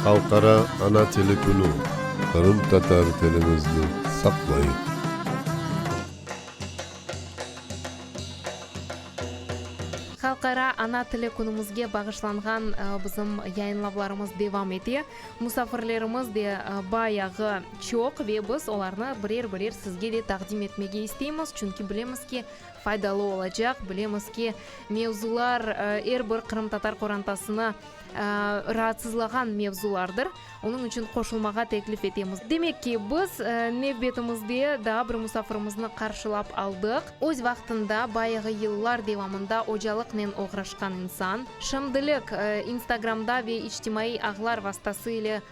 Halqara ana tili künü, qırımtatar tilimizni saqlayıq! Halqara ana tili künümizge bağışlanğan bizim yayınlavlarımız devam ete, musafirlerimiz de bayağı çoq ve biz olarnı birer-birer sizge de taqdim etmege isteymiz, çünki bilemiz ki, faydalı olacaq, bilemiz ki, mevzular er bir qırımtatar qorantasını raatsızlağan mevzulardır, onıñ içün qoşulmağa teklif etemiz. Demek ki, biz nevbetimizde daa bir musafirimizni qarşılap aldıq. Öz vaqtında, bayağı yıllar devamında ocalıqnen oğraşqan insan, şimdilik Instagramda ve içtimaiy ağlar vastası ile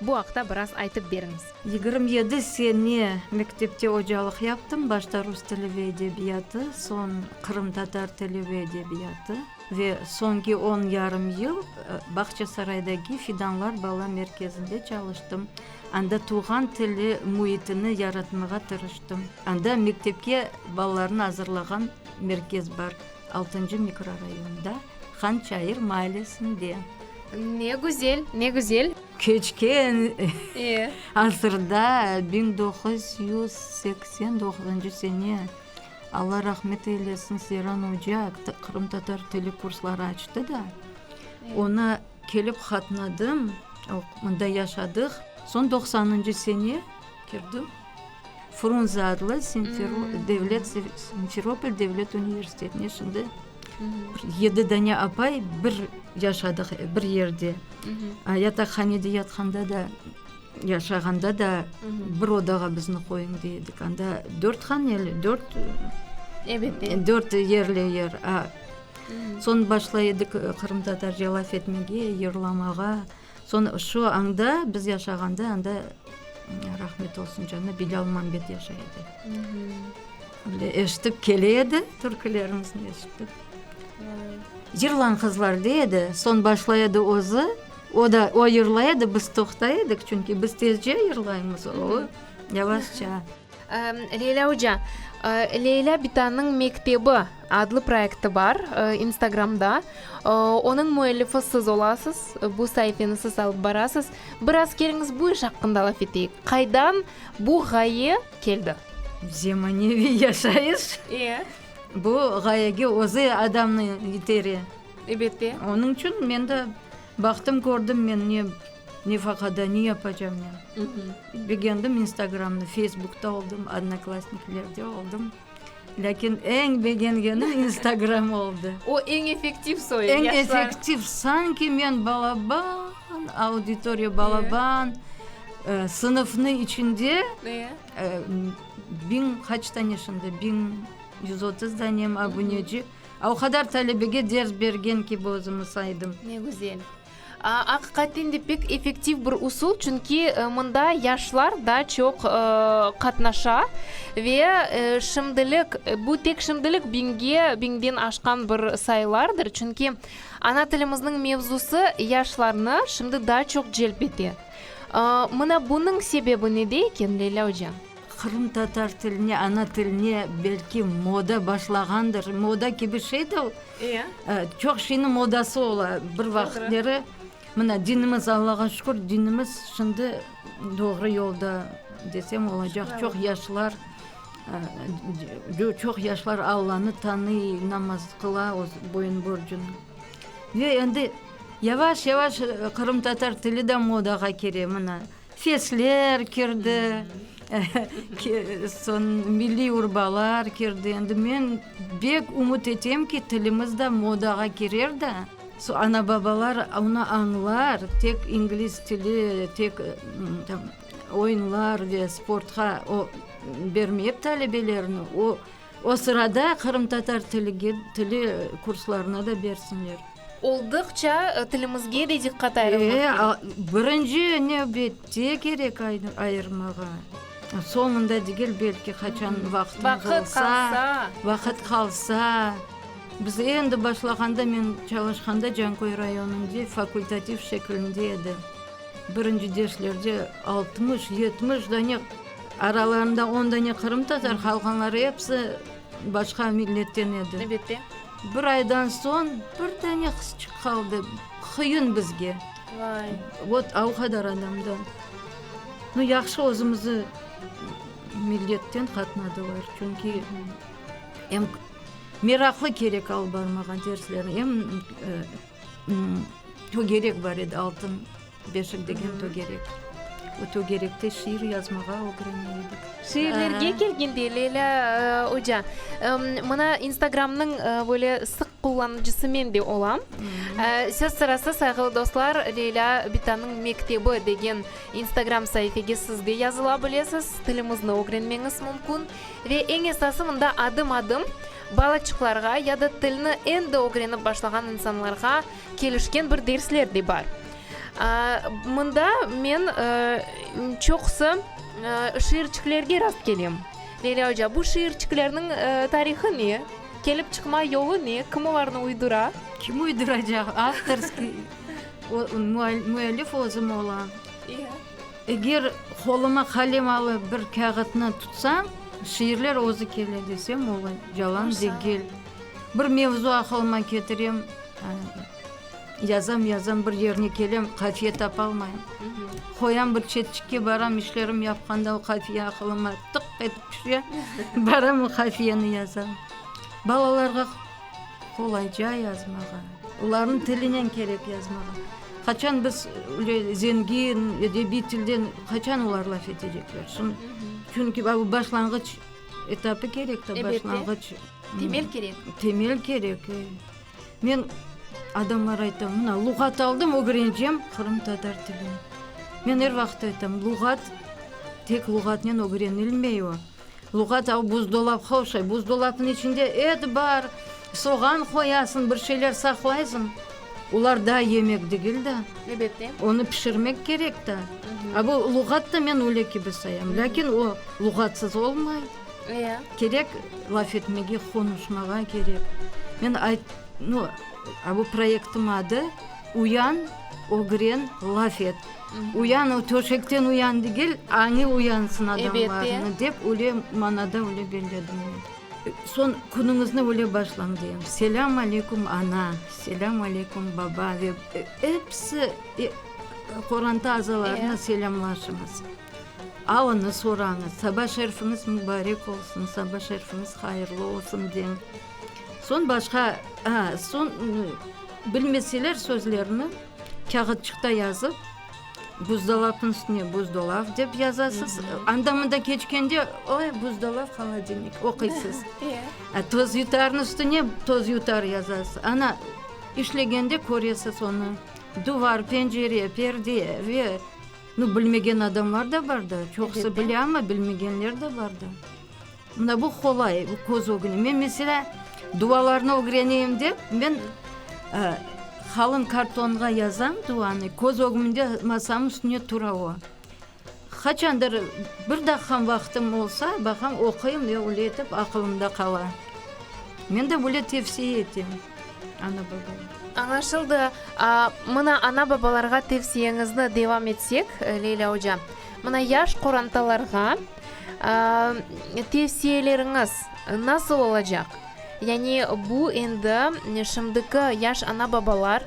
Bu aqta biraz aytıp beriñiz. Yigirmi yedi sene mektepte ocalıq yaptım, başta rus tili ve edebiyatı, soñ qırımtatar tili ve edebiyatı ve soñki on yarım yıl Bağçasaraydaki Fidanlar bala merkezinde çalıştım. Anda tuvğan tili müitini yaratmağa tırıştım. Anda mektepke balalarnı azırlağan merkez bar, altıncı mikrorayonda. Han Çayır maallesinde. Ne güzel, ne güzel. Keçken asırda, biñ doquz yüz seksen doquzıncı sene, Alla rahmet eylesin, Seyran oca qırımtatar tili kursları açtı da, ona kelip qatnadım, mında yaşadıq. Soñ doqsanıncı sene kirdim Frunze adlı devlet Simferopol devlet universitetine şimdi. Yedi dane apay bir yaşadıq, bir yerde. Yataqhanede yatqanda da, yaşağanda da bir odağa bizni qoyuñ dey edik. Anda dört haneli, dört dört yerli yer. Soñ başlay edik qırımtatar yalaf etmege, yırlamağa. Soñ şu anda, biz yaşağanda anda, rahmet olsun canına, Bilâl Mambet yaşay edi. Böyle eşitip kele edi, türkülerimizni eşitip. Yırlañ qızlar dey edi, soñ başlay edi özü, o da, o yırlay edi, biz toqtay edik, çünki biz tezce yırlaymız, o yavaşça. Leyla oca, Leyla bitanıñ mektebi adlı proekti bar instagramda. Onıñ müellifi siz olasız, bu saifeni siz alıp barasız. Biraz keliñiz bu iş aqqında laf eteyik. Qaydan bu ğaye keldi? Zemaneviy yaşayış. Bu ğayege özü adamnı itere. Onıñ içün men de baqtım, kördim men ne. Nefaqada ne yapacam men? Begendim instagramnı, feysbukta oldım, odnoklasniklerde oldım. Lâkin eñ begengenim instagram oldı. O eñ efektiv soy, yaşlar. Eñ efektiv, sanki men balaban, auditoriya balaban, sınıfnı içinde biñ qaç tane şimdi, biñ yüz otuz danemi abuneci. O qadar talebege ders bergen kibi özümü saydım. Ne güzel. Aqiqaten de pek effektiv bir usul, çünki mında yaşlar daa çoq qatnaşa. Ve şimdilik, bu tek şimdilik biñge, biñden aşqan bir sayılardır, çünki ana tilimizniñ mevzusı yaşlarnı şimdi daa çoq celp ete. Mına bunıñ sebebi nede eken, Leyla oca? Qırımtatar tiline, ana tiline belki moda başlağandır, moda kibi şey de o. Çoq şeyniñ modası ola, bir vaqıtları, mına, dinimiz, Allağa şükür, dinimiz şimdi doğru yolda desem olacaq, çoq yaşlar, çoq yaşlar Allanı tanıy, namaz qıla, boyun borcunu. Ve endi yavaş-yavaş qırımtatar tili de modağa kire, mına, Sesler kirdi, milliy urbalar kirdi. Endi men bek ümüt etem ki, tilimiz de modağa kirer de, ana-babalar onı añlar, tek ingliz tili, tek oyunlar ve sportqa bermeyip talebelerini, o. O sırada qırımtatar tili kurslarına da bersinler. Oldıqça tilimizge de diqqat ayırmaq kerek. Birinci nevbette kerek ayırmağa. Soñunda degil, belki qaçan vaqıtımız olsa, vaqıt qalsa. Biz endi başlağanda, men çalışqanda Canköy rayonında fakultativ şekilinde edi. Birinci derslerde altmış, yetmiş dane. Aralarında on dane qırımtatar qalğanları episi başqa milletten edi. Elbette. Bir aydan soñ bir dane qızçıq qaldı, qıyın bizge. Vay. Vot o qadar adamdan. Nu, yahşı özümüzi milletten qatnadılar, çünki em meraqlı kerek alıp barmağa derslerni, em togerek bar edi altın. Beşik degen tögerek. O tögerekte şiir yazmağa ögreney edik. Şiirlerge kelgende, Leyla oca, mına instagramnıñ böyle sıq qullanıcısı men de olam. Söz sırası, sayğılı dostlar, Leyla Bitanıñ mektebi degen instagram saifege siz de yazıla bilesiz, tilimizni ögrenmeñiz mümkün. Ve eñ esası, mında adım-adım balaçıqlarğa ya da tilni endi ögrenip başlağan insanlarğa Kelişken bir dersler de bar. Mında men çoqusı şiirçiklerge rast kelem. Leyla oca, bu şiirçiklerniñ tarihı ne? Kelip çıqma yolu ne? Kim olarnı uydura? Kim uyduracaq? Avtorskiy, müellif özüm olam. Eger qoluma qalem alıp bir kâğıtnı tutsañ, şiirler özü kele desem, o yalan degil. Bir mevzu aqılıma ketirem, yazam, yazam, bir yerine kelem, qafiye tapalmayım. Qoyam bir çetçikke, baram, işlerim yapqanda o qafiye aqılıma tıq etip tüşe, baram, o qafiyeni yazam. Balalarğa qolayca yazmağa, olarnıñ tilinen kerek yazmağa. Qaçan biz öyle zengin, edebiy tilden qaçan olar laf etecekler? Çünki bu başlanğıç etapı kerek, başlanğıç. Temel kerek. Temel kerek. Men adamlara aytam, mına, luğat aldım, ögreneceğim qırımtatar tilini. Men er vaqıt aytam, luğat tek luğatnen ögrenilmey o. Luğat al, buzdolapqa oşay, buzdolapnıñ içinde et bar, soğan qoyasıñ, bir şeyler saqlaysıñ. Olar da yemek degil da. Elbette. Onı pişirmek kerek da. A bu luğat da men öyle kibi sayam. Lâkin o luğatsız olmay. Kerek laf etmege, qonuşmağa kerek. Men ayt, nu, a bu proyektim adı, Uyan, ögren, laf et. Uyan, o töşekten uyan degil, añı uyansın adamlarnıñ, dep öyle manada öyle belledim men. Soñ künüñizni öyle başlañ, deyim. Selâm aleykum, ana, selâm aleykum, baba, ve episi, qoranta azalarına selâmlaşıñız. Aonı sorañız, saba şerfiñiz mübarek olsun, saba şerfiñiz hayırlı olsun deñ. Soñ başqa, a, soñ bilmeseler sözlerini kâğıtçıqta yazıp, buzdolapnıñ üstüne buzdolav dep yazasız, anda-mında keçkende, oy, buzdolav, holodilnik, oquysız. A tozyutarnıñ üstüne tozyutar yazasız, ana, işlegende köresiz onı, duvar, pencere, perde ve. Nı bilmegen adamlar da bar da, çoqusı bile, amma bilmegenler de bar da. Mına bu qolay, bu köz ögüni. Men meselâ, dualarnı ögreneyim dep, men qalın kartonğa yazam duanı, köz ögümde masamnıñ üstünde tura o. Qaçandır bir daqqam vaqtım olsa, baqam, oquyım, öyle etip aqılımda qala. Men de böyle tevsiye etem. Añlaşıldı. Mına, ana-babalarğa tevsiyeñizni devam etsek, Leyla oca. Mına, yaş qorantalarğa tevsiyeleriñiz nasıl olacaq? Yani bu endi şimdiki yaş ana-babalar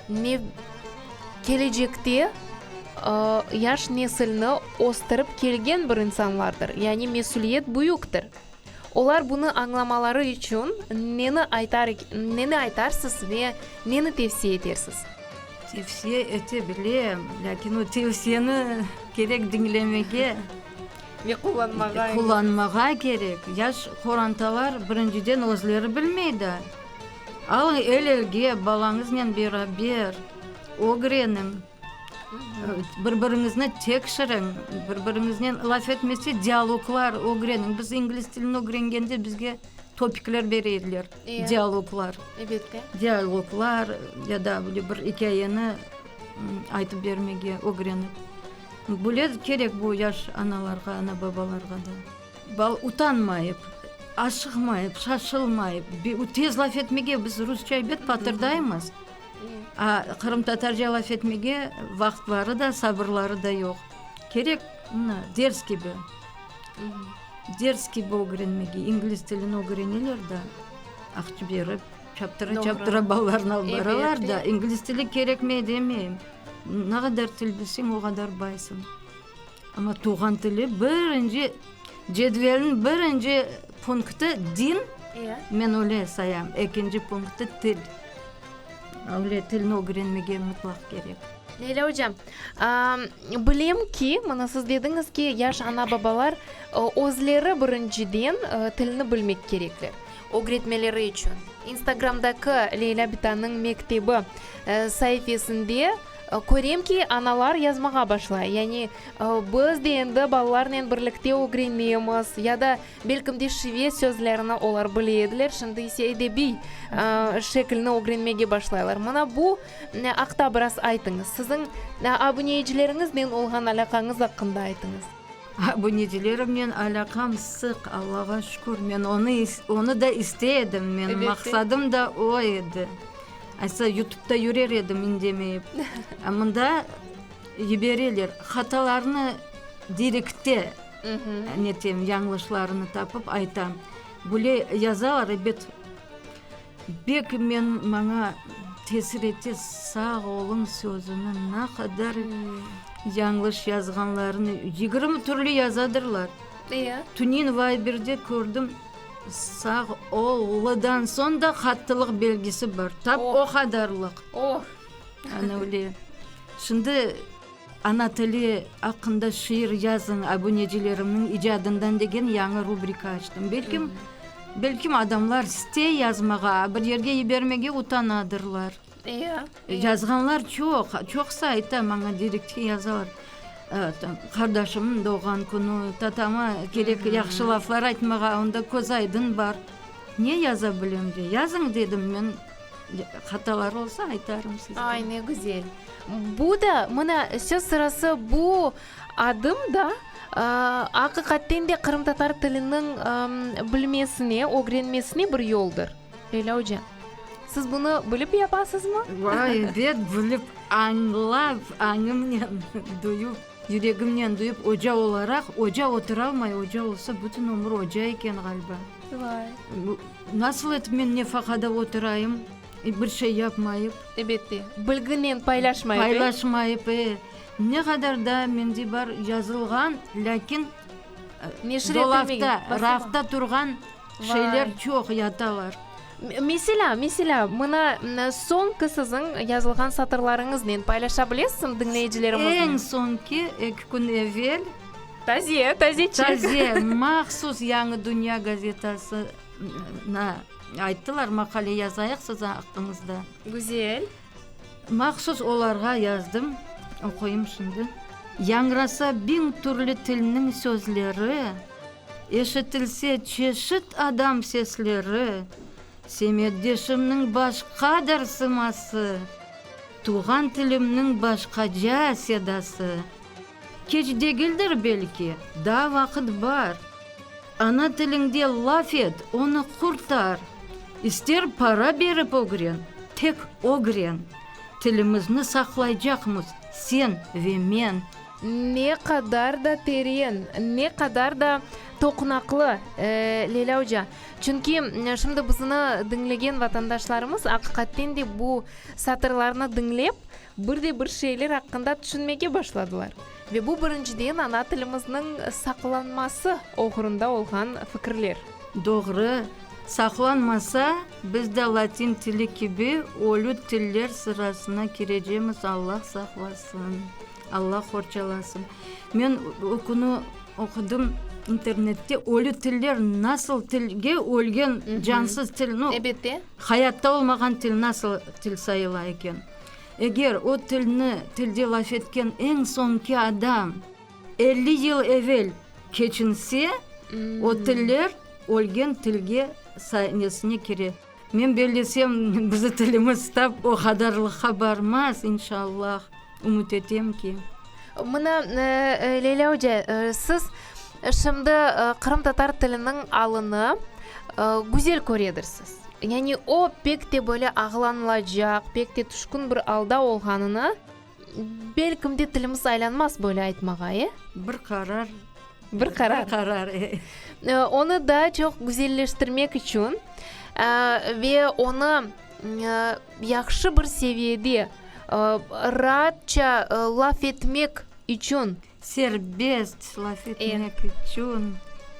ne, kelecekte yaş nesilni östürip kelgen bir insanlardır. Yani mesüliyet büyüktir. Olar bunı añlamaları içün neni aytar, neni aytarsız ve neni tevsiye etersiz? Tevsiye ete bilem, lâkin o tevsiyeni kerek diñlemege, Ve qullanmağa. qullanmağa kerek. Yaş qorantalar birinciden özleri bilmey da. Alıñ el-elge, balañıznen beraber ögreniñ. Bir biriñizni tekşiriñ, bir biriñiznen laf etmese dialoglar ögreniñ. Biz ingliz tilini ögrengende bizge topikler bere ediler, dialoglar. Elbette. Dialoglar ya da böyle bir ikâyeni aytıp bermege ögrenip. Böyle kerek bu yaş analarğa, ana babalarğa da. Bala utanmayıp, aşıqmayıp, şaşılmayıp, tez laf etmege, biz rusça ebet patırdaymız. Qırımtatarca laf etmege vaqıtları da, sabırları da yoq. Kerek, mına, ders kibi, ders kibi ögrenmege. İngliz tilini ögreneler da, aqçı berip, çaptıra, çaptıra balalarını alıp baralar da. İngliz tili kerekmey demeyim. Ne qadar til bilseñ, o qadar baysıñ. Amma tuvğan tili birinci cedvelniñ birinci punkti din, men öyle sayam, ekinci punkti til. Öyle tilni ögrenmege mutlaq kerek. Leyla ocam, bilem ki, mına siz dediñiz ki, yaş ana babalar özleri birinciden tilni bilmek kerekler, ögretmeleri içün. İnstagramdaki Leyla bitanıñ mektebi saifesinde Körem ki, analar yazmağa başlay, yani, biz de endi balalarnen birlikte ögrenmeymiz, ya da, belkim de, şivet sözlerini olar bile ediler, şimdi ise edebiy şekilni ögrenmege başlaylar. Mına bu aqta biraz aytıñız. Siziñ abuneyicileriñiznen olğan alâqañız aqqında aytıñız. Abunecilerimnen alâqam sıq, Allağa şükür. Men onı, onı da istey edim. Men maqsadım da o edi. Aytsa, yutubda yürer edim indemeyip. A mında yibereler. Hatalarnı direkte netem, yañlışlarını tapıp aytam. Böyle yazalar, ebet. Bek men, maña tesir ete sağ olun sözüni ne qadar yañlış yazğanlarını yigirmi türlü yazadırlar. Eya. Tünin vayberde kördim sağ ol lıdan soñ da qattılıq belgisi bar. Tap o qadarlıq. Oh. Ana öyle. Şimdi. Ana tili aqqında şiir yazıñ abunecilerimniñ icadından degen yañı rubrika açtım. Belkim, belkim adamlar stey yazmağa, bir yerge yibermege utanadırlar. Ya. Yazğanlar çoq, çoqsı ayta maña direktke yazalar. Qardaşımnıñ doğğan künü, tatama kerek yahşı laflar aytmağa, onda közaydın bar. Ne yaza bilem de, yazıñ dedim men. Hataları olsa aytarım sizge. Ay, ne güzel! Bu da, mına, söz sırası bu adım da, aa, aqiqatten de qırımtatar tiliniñ, ımm, bilmesine, ögrenmesine bir yoldır. Leyla oca, siz bunı bilip yapasızmı? Vay, bet, bilip, añlap, añımnen duyup. Yüregimnen duyıp oca olaraq, oca oturalmay, oca olsa bütün ömür oca eken ğaliba. Vay. Nasıl etip men nefaqada oturayım, bir şey yapmayıp. Ebette, bilginen paylaşmayıp, e? Paylaşmayıp, e. Ne qadar da mende bar yazılğan, lâkin dolapta, rafta turğan Şeyler çoq yatalar. Meselâ, meselâ, mına soñki siziñ yazılğan satırlarıñıznen paylaşa bilesiñ diñleyicilerimiznen? Eñ soñki, eki kün evel. Taze, tazecik. Taze, mahsus Yañı dünya gazetasına ayttılar, maqale yazayıq siziñ aqqıñızda. Güzel. Mahsus olarğa yazdım, oquyım şimdi. Yañrasa biñ türlü tilniñ sözleri, Eşitilse çeşit adam sesleri, Semetdeşimniñ başqadır sıması, Tuvğan tilimniñ başqaca sedası. Keç degildir belki, daa vaqıt bar. Ana tiliñde laf et, onı qurtar! İster para berip ögren, tek ögren! Tilimizni saqlaycaqmız sen ve men. Ne qadar da teren, ne qadar da toqunaqlı, Leyla oca! Çünki şimdi bizni diñlegen vatandaşlarımız aqiqatten de bu satırlarnı diñlep, bir de bir şeyler aqqında tüşünmege başladılar. Ve bu birinciden ana tilimizniñ saqlanması oğrunda olğan fikirler. Doğru, saqlanmasa, biz de latin tili kibi ölü tiller sırasına kirecemiz, Alla saqlasın, Alla qorçalasın. Men ökünü oqudım internette, ölü tiller nasıl tilge ölgen cansız til, no, hayatta olmağan til nasıl til sayıla eken. Eger o tilni tilde laf etken eñ soñki adam elli yıl evel keçinse, o tiller ölgen tilge sahnesine kire. Men bellesem, bizi tilimiz tap o qadarlıqqa barmaz, inşallah. Ümüt etem ki. Mına, Leyla oca, siz şimdi qırımtatar tiliniñ alını güzel köredirsiz. Yani o pek te böyle ağlanılacaq, pek te tüşkün bir alda olğanını, belkim de tilimiz aylanmaz böyle aytmağa, e? Bir qarar. Bir qarar. Bir qarar, e. Onı daa çoq güzelleştirmek içün ve onı yahşı bir seviyede raatça laf etmek içün. Serbest laf etmek içün.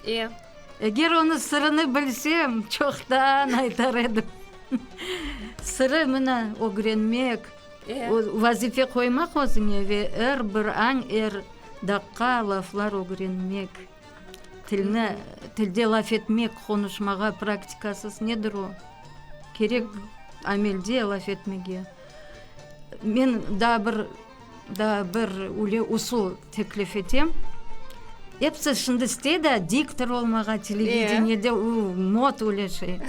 E. Eger onı sırını bilsem, çoqtan aytar edim. Sırı mına ögrenmek, vazife qoymaq özüñe ve er bir añ, er daqqa laflar ögrenmek. Tilni, tilde laf etmek, qonuşmağa praktikasız nedir o? Kerek amelde laf etmege. Men daa bir, daa bir üyle usul teklif etem, episi şimdi istedi a, diktor olmağa, televideniyede uu mod üyle şey.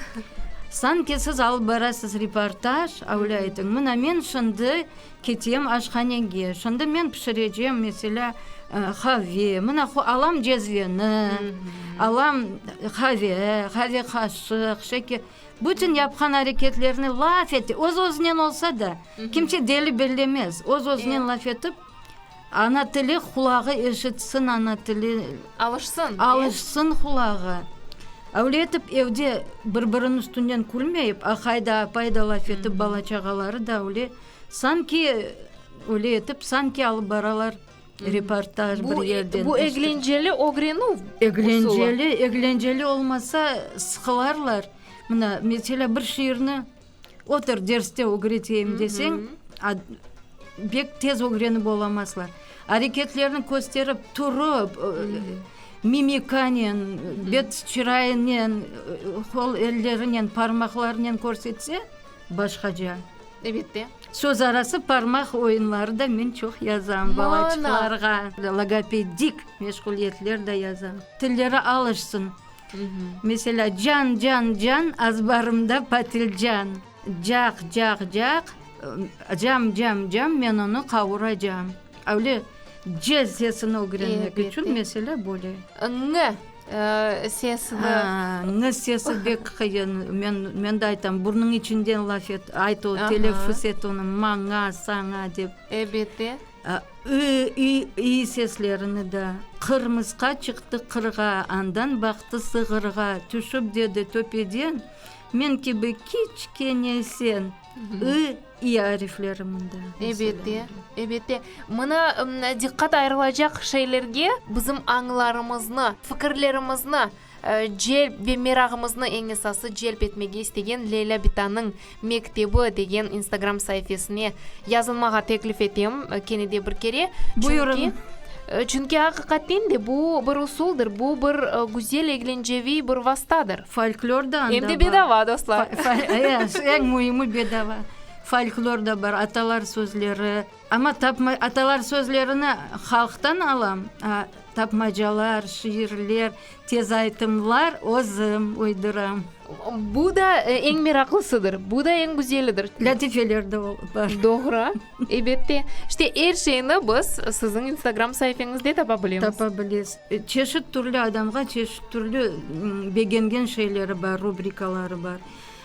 Sanki siz alıp barasız reportaj, öyle aytıñ, mına men şimdi, Ketem aşhanege, şonda men pişirecem, meselâ, qave, mına qo, alam cezveni, alam qave, qave qaşıq, şeker, bütün yapqan areketlerni laf ete, öz-özünen olsa da, kimse deli bellemez, öz-özünen laf etip, ana tili qulağı eşitsin, ana tili, Alışsın, e? alışsın qulağı. Öyle etip, evde bir-biriniñ üstünden külmeyip, aqayda-apayda laf etip, bala-çağaları da öyle. Sanki, öyle etip, sanki alıp baralar reportaj bir yerden. Bu eglenceli ögrenüv usulı. Eglenceli, eglenceli olmasa, sıqılarlar. Mına, meselâ, bir şiirni otur derste ögreteyim deseñ, bek tez ögrenip olamazlar. Areketlerni kösterip, turıp, mimikanen, bet-çırayınen, qol-ellerinen, parmaqlarınen körsetse, Başqaca. Ebette. Söz arası parmaq oyunları da men çoq yazam balaçıqlarğa. Mana! Logopedik meşğuliyetler da yazam. Tilleri alışsın. Meselâ, can, can, can, azbarımda patilcan. Caq, caq, caq, cam, cam, cam, men onı qavuracam. Öyle c sesini ögrenmek içün, meselâ, böyle. Ñ. sesi de. Aa, sesi bek qıyın, men, men de aytam, burnunıñ içinden laf et, ayt o, teleffüs et onı, maña, saña dep. Ebette. Aa, ı, i, i seslerini de. Qırmısqa çıqtı qırğa, andan baqtı sığırğa, tüşip dedi töpeden, men kibi kiçkene sen, ı, İ arifleri mında. Ebette, ebette. Mına diqqat ayırılacaq şeylerge bizim añlarımıznı, fikirlerimizni celp ve merağımıznı eñ esası celp etmege istegen Leyla Bitanıñ mektebi degen instagram saifesine yazılmağa teklif etem kene de bir kere. Buyurıñ. Çünki, aqiqaten de, bu bir usuldır, bu bir güzel eglenceviy bir vastadır. Folklor da anda bar. Em de bedava, dostlar. Eñ müimi, bedava. Folklor da bar, atalar sözleri. Amma atalar sözlerini halqtan alam, a tapmacalar, şiirler, tez aytımlar özüm uyduram. Bu da eñ meraqlısıdır, bu da eñ güzelidir. Lâtifeler de bar. Doğru. Ebette. İşte, er şeyni biz siziñ instagram saipeñizde tapa bilemiz. Tapa bilesiz. Çeşit türlü adamğa çeşit türlü begengen şeyleri bar, rubrikaları bar.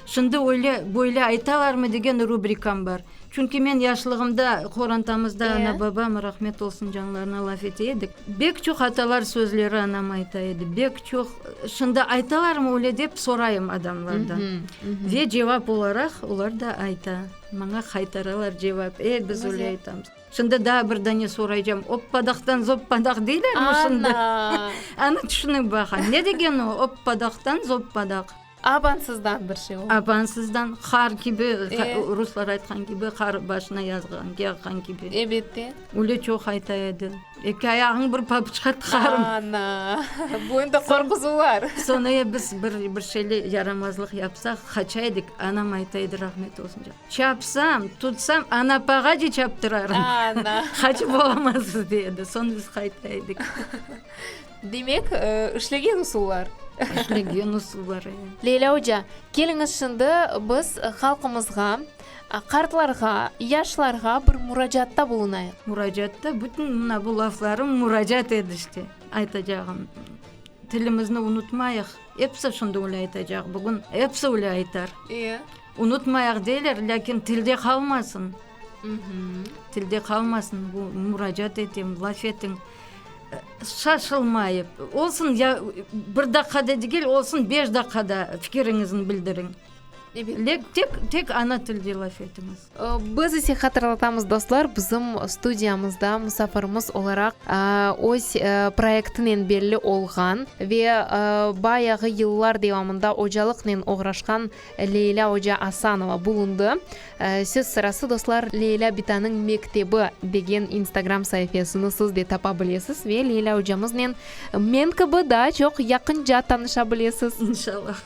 Şimdi öyle, böyle aytalarmı degen rubrikam bar. Çünki men yaşlığımda qorantamızda ana, babam, rahmet olsun canlarına, laf ete edik. Bek çoq atalar sözleri anam ayta edi. Bek çoq. Şimdi aytalarmı öyle dep sorayım adamlardan. Ve cevap olaraq olar da ayta. Maña qaytaralar cevap, e, biz öyle aytamız. Şimdi daa bir dane soraycam, oppadaqtan zoppadaq deylermi şimdi? Ana! Ana, tüşünip baqañ, ne degeni o, oppadaqtan zoppadaq? Abansızdan bir şey oldı. Abansızdan, qar kibi, ruslar aytqan kibi, qar başına yağğan kibi. Ebette. Öyle çoq ayta edi. Eki ayağıñ bir papuçqa tıqarım. Ana! Bu endi qorquzuvlar. Soñra ya biz bir, bir şeyle yaramazlıq yapsaq, qaça edik, anam ayta edi, rahmetli olsun, diyor, çapsam, tutsam, Anapağa da çaptırarım. Ana! Qaçıp olamazsız, dey edi. Soñ biz qayta edik. Demek, işlegen usullar. İşlegen usullar, eee. Leylâ oca, keliñiz şimdi biz halqımızğa Qartlarğa, yaşlarğa bir muracatta bulunayıq. Muracatta bütün mına bu laflarım muracat edişte aytacağım. Tilimizni unutmayıq. Episi şimdi öyle aytacaq bugün, episi öyle aytar. İyi. Unutmayıq deyler, lâkin tilde qalmasın. Tilde qalmasın bu, muracat etem, laf etiñ. Şaşılmayıp, olsun ya bir daqqada degil, olsun beş daqqada fikiriñizni bildiriñ. Tek ana tilde laf etiñiz. Biz ise hatırlatamız, dostlar, bizim studiyamızda musafirimiz olaraq öz proyektinen belli olğan ve bayağı yıllar devamında ocalıqnen oğraşqan Leylâ oca Asanova bulundı. Söz sırası, dostlar, Leylâ Bitanıñ mektebi degen instagram saifesini siz de tapa bilesiz ve Leylâ ocamıznen men kibi daa çoq yaqınca tanışa bilesiz. İnşallah.